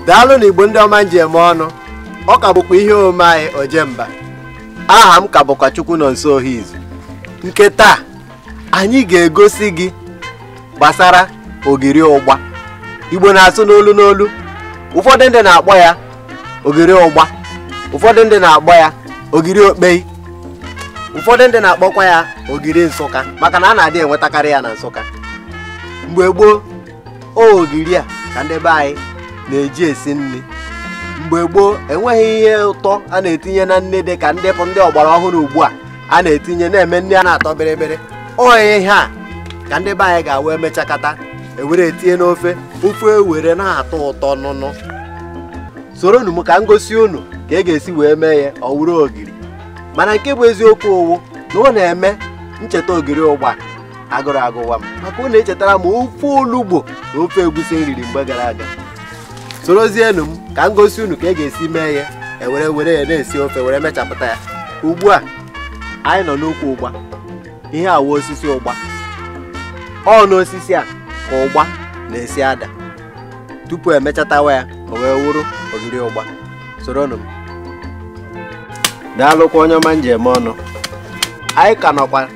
daalụ na igbo ndị ọma m ji eme ọnụ ọ ka bụkwa ihe omume anyị ojemba aha m ka bụkwa chukwunọnso ohi izu nke taa anyị ga-egosi gị gbasara ogiri ụgba igbo na-asụ n'olu n'olu ụfọdụ ndị na-akpọ ya ogiri ụgba ụfọdụ ndị na-akpọ ya ogiri okpei ụfọdụ ndị na-akpọkwa ya ogiri nsụka maka na a na-adị enwetakarị ya na nsụka mgbe gboo ogiri a ka ndị be anyị na-eji esi nri mgbe gboo enweghị ihe ụtọ a na-etinye na nri dị ka ndị bụ ndị ọgbara ọhụrụ ugbu a a na-etinye na-eme ndị a na-atọ bịrịbịrị ọ ihe a ka ndị be anyị ga-awa emechakata ewere etinye n'ofe ofe ewere na-atọ ụtọ nụnụ soronụ m ka m gosi unu ka e ga-esi wee mee ya ọ wụrụ ogiri mana nke bụ eziokwu wụ na ọ na-eme m cheta ogiri ụgba agụrụ agụwa m maka ọ na-echetara m ofe olugbo na ofe egusi m riri mgbe gara aga sorozienụ m ka m gosi unu ka e ga-esi mee ya ewere were ya na-esi ofe were mechapụta ya ugbu a anyị nọ n'ukwu ụgba ihe a wụ osisi ụgba ọ n'osisi a ka ụgba na-esi ada tupu emechatawa ya o wee wụrụ ogiri ụgba soronụ m daalụkwa onye ọma m ji eme ọnụ anyị ka nọkwa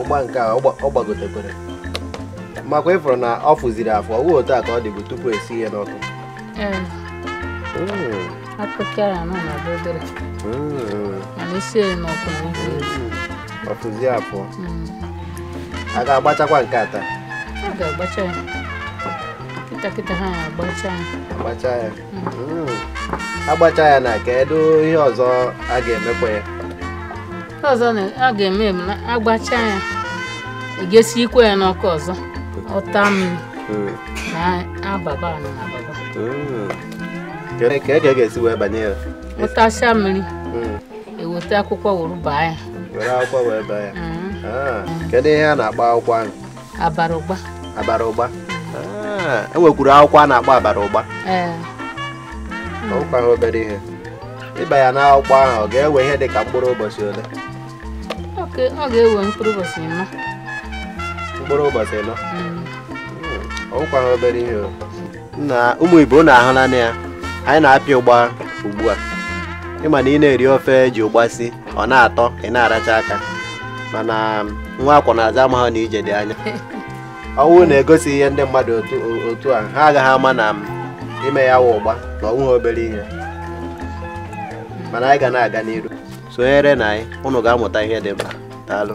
ụgba nke a ọ gbagotekwere makwa ị fụrụ na ọ fụziri afọ ọ otu a ka ọ dịbụ tupu esie ya n'ọkụ ọ fụzi afọ a ga-agbachakwa nke a taa a ga-agbacha ya kịta kịta ha agbacha ya hmm. agbacha ya na kedu ihe ọzọ a ga-emekwa ya ọzọ a ga-eme m na agbacha ya e ga-esikwe ya n'ọkụ ọzọ ọ taa mmiri hmm. na ababa na ababa hmm. ka e ka e ga-esi wee baa ya ọ tachaa mmiri eweta akwụkwọ were baa ya were akwụkwọ wee baa ya ah. kedu ihe a na-akpọ akwụkwọ ahụ abara ụgba abara ụgba ah, e nwekwuru akwụkwọ a na-akpọ abara ụgba ọ wụkwa ha obere ihe ịba ya n'akwụkwọ ahụ ọ ga-ewe ihe dị ka mkpụrụ ụbọchị ole ọ ga-ewe mkpụrụ ụbọchị ịnọ mkpụrụ ụbọchị ịnọ ọ wụkwa hmm. hmm. ha obere ihe na ụmụ ibe unu ahụlanụ ya anyị na-apịa ụgba ugbu a ị ma na ị na-eri ofe ji ụgba si ọ na-atọ ị na-aracha aka mana um, nwa a kwọ n'azụ ama ha na ije dị anya ọ wụ na egosighị ndị mmadụ otu a ha agaghị ama na um, ime ya wụ ụgba na ọ wụ ha obere ihe mana anyị ga na-aga n'iru sonyerenụ anyị ụnụ ga-amụta ihe dị mkpa daalụ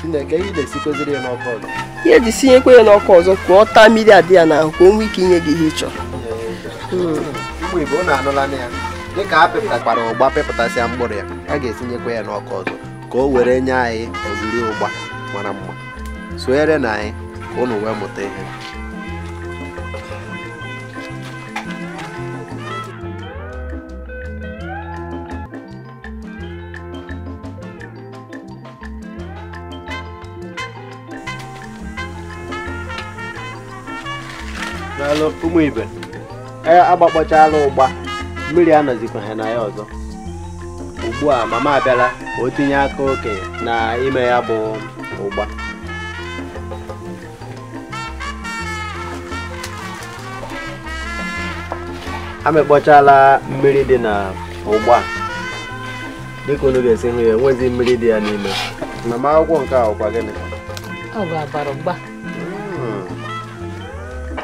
Chineke ihe na-esikwaziri ya n'ọkụ ọzọ ihe e ji sinyekwa ya n'ọkụ ọzọ ka ọ taa mmiri dị ya n'ahụ ka o nwee ike inye gị ihe ị chọrọ ụmụ ibe unu anụlanụ ya dịka a pịpụtakwara ụgba pịpụtasịa mkpụrụ ya a ga-esinyekwa ya n'ọkụ ọzọ ka o were nye anyị ogiri ụgba mara mma sonyerenụ anyị ka unu wee mụta ihe daalụ ụmụ ibe e, agbakpọchala ụgba mmiri anọzikwaghị na ya ọzọ ugbu a mama abịala ka o tinye aka okenye na ime ya bụ ụgba amịkpọchala mmiri dị na ụgba dịka unu ga-esi hụ ya enwezi mmiri dị ya n'ime na m akwụkwọ nke a ọ kwa gịnị ọ bụ abara ụgba hmm.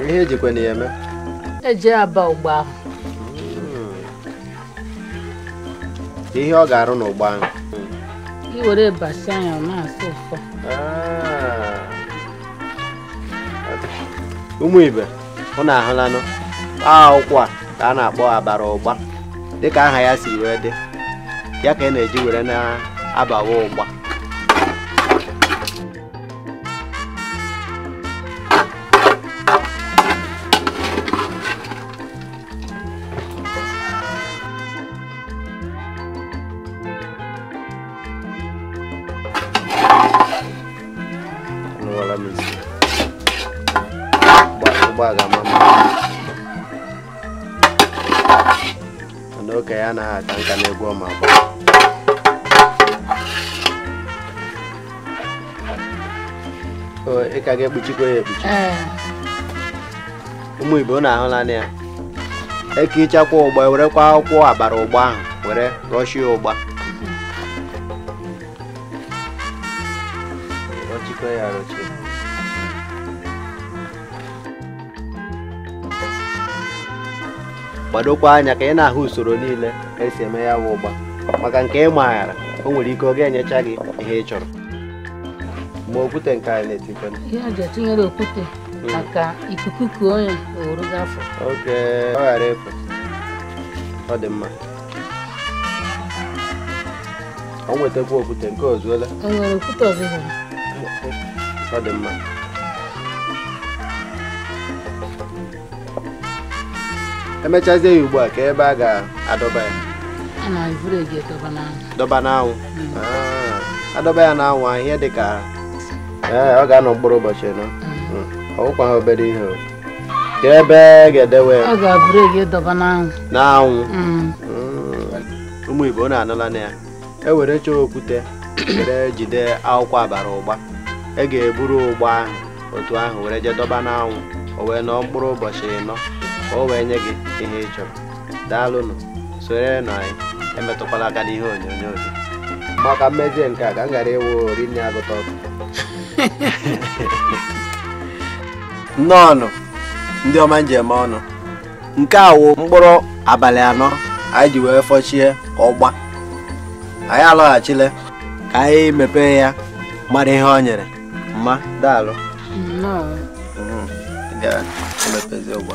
ihe e jikwanụ ya eme e ji aba ụgba ahụ ihe ọ ga-arụ n'ụgba ahụ i were basịa ya ọ na-asụ ụfụfụ Ah. ụmụ ibe unu ahụlanụ akwụkwọ a ka a na-akpọ abara ụgba dịka aha ya si wee dị ya ka a na-eji were na-abawa ụgba ị gbalịala mama mana okenye anaghị aka nka n'egwu ọ ma agba ị ka ga-ekpuchikwa ya ekpuchi ụmụ ibe unu ahụlanụ ya e kechakwa ụgba werekwa akwụkwọ abara ụgba ahụ were rọchie ụgba rọchikwa ya rọchie gbadokwa anya ka ị na-ahụ usoro niile e si eme ya bụ ụgba maka nke ị maghara o nwere ike ọ ga-enyecha gị ihe ị chọrọ ma okwute nke anyị na-etikwa ihe a ga-etinyere okwute maka ikuku ka onye owuru gafọ oke ọ ghara efu ọ dị mma o wetakwa okwute nke a o zuola o nwere okwute ọzọ ọ dị mma emechazie ya ugbu a ka ebe a ga-adọba ya dọba n'anwụ hmm. ah, adọba ya n'anwụ ahụ ihe dị ka eh, ọ ga-anọ mkpụrụ ụbọchị ịnọ hmm. hmm. ọ wụkwaghị obere ihe ka ebe ga-edewe ya n'anwụ ụmụ ibe unu anụlanụ ya e were chọọ okwute were jide akwụkwọ abara ụgba e ga-eburu ụgba ahụ otu ahụ were jee dọba n'anwụ o wee nọọ mkpụrụ ụbọchị ịnọ ka o wee nye gị ihe ị chọrọ daalụnụ sonyerenụ anyị emetụkwala aka n'ihe onyonyo gị maka mmezi nke a ka m ghara ịwụ rinne agụta ọkụ nnọọnụ ndị ọma njem ọnụ nke a wụ mkpụrụ abalị anọ anyị ji wee fụchie ụgba anyị alọghachile ka anyị mepee ya mara ihe ọ nyere mma daalụ ga-emepezi ụgba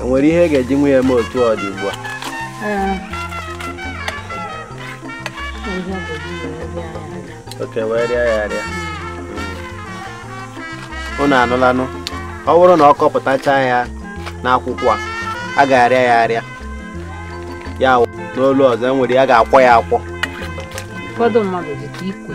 enwere ihe ị ga-ejinwu ya eme otu ọ dị ugbu a ọ ka e wee rịa ya arịa unu anụlanụ ọ wụrụ na ọ kọpụtacha ya n'akwụkwọ a a ga-arịa ya arịa ya wụ n'olu ọzọ enwere ya ga-akwọ ya akwọ ụfọdụ mmadụ dịka ikwe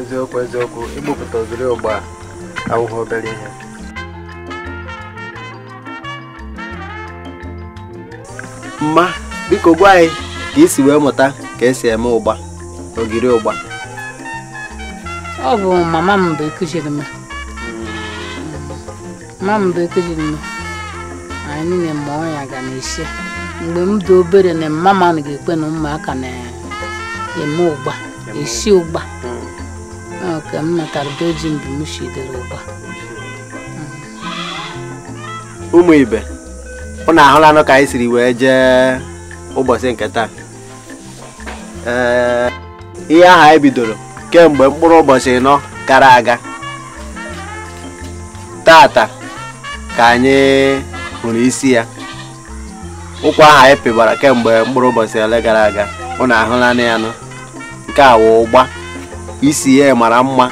eziokwu eziokwu ịrụpụta ogiri ụgba awụghị obere ihe mma biko gwa anyị ka i si wee mụta ka esi eme ụgba ogiri ụgba ọ bụ mama m bụ ekuziri m ma m bekiri nnu anyị niile ma ọ ya ga na-esi mgbe m dị obere na mama m ga-ekwe na ụmụaka na-eme ụgba esi ụgba ka m mụtara be ji mgbe m shidere ụgba ụmụ ibe ụnụ ahụlanụ ka anyị siri wee jee ụbọchị nke taa ee ihe ahụ anyị bidoro kemgbe mkpụrụ ụbọchị ịnọ gara aga tata ka anyị hụrụ isi ya ukwu ahụ anyị pịbara kemgbe mkpụrụ ụbọchị ole gara aga unu ahụlanụ ya nụ nke a wụ ụgba isi ya mara mma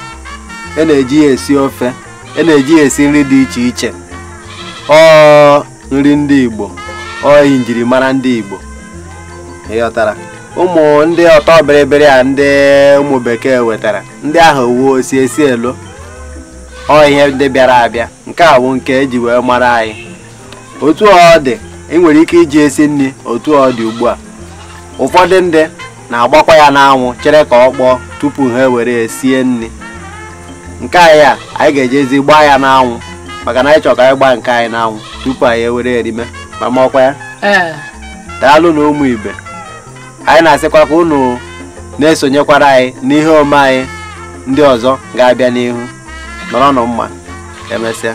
e na-eji ya esi ofe e na-eji ya esi nri dị iche iche ọ nri ndị Igbo ọ ihe njirimara ndị Igbo ị ghọtara ụmụ ndị ọtọ bịrịbịrị a ndị ụmụ bekee wetara ndị ahụ wuo osi esi elo ọ ihe ndị bịara abịa nke a bụ nke eji wee mara anyị otu ọ dị ị nwere ike iji esi nri otu ọ dị ugbu a ụfọdụ ndị na-agbakwa ya n'anwụ chere ka ọ kpọọ tupu ha ewere ya sie nri nke anyị a anyị ga-ejezi gbaa ya n'anwụ maka na anyị chọrọ ka anyị gbaa nke anyị n'anwụ tupu anyị ewere erime ma ma ọkwa ya ee daalụnụ ụmụ ibe anyị na-asịkwa ka unu na-esonyekwara anyị n'ihe omume anyị ndị ọzọ ga-abịa n'ihu nọrọnụ mma emesịa